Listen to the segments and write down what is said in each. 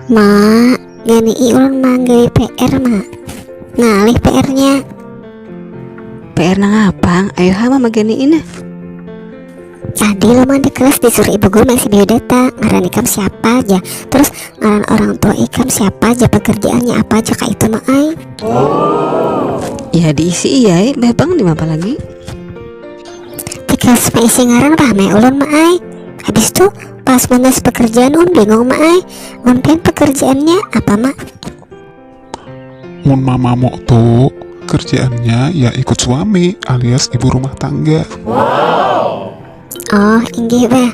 Mak, gani iun manggawi PR mak. Ngalih PR-nya. PR nang apa? Ayo hama magani ini. Tadi lo mah di kelas disuruh ibu guru mengisi biodata, ngaran ikam siapa aja, terus ngaran orang tua ikam siapa aja, pekerjaannya apa aja kak itu mah ay. Oh. Ya diisi iya, eh, bang di apa lagi? tikas beisi ngarang rahmai ulun ma ai habis tu pas menulis pekerjaan un bingung ma ai un pen pekerjaannya apa ma mun mamamu tu kerjaannya ya ikut suami alias ibu rumah tangga. Oh, inggih bah.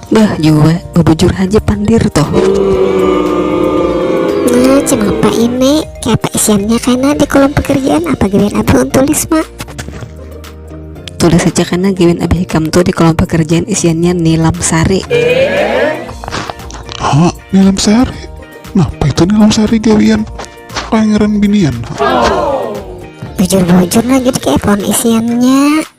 Bah jua, bebujur haja pandir toh. Nah, cemapa ini? Kaya apa isiannya kena di kolom pekerjaan apa gawian abah un tulis mak? Tulis saja kena gawian abah hikam tuh di kolom pekerjaan isiannya nilam sari. Ha, nilam sari? Napa itu nilam sari gawian pangeran binian? Ha? Bujur-bujur nah jadi kaya apa un isiannya?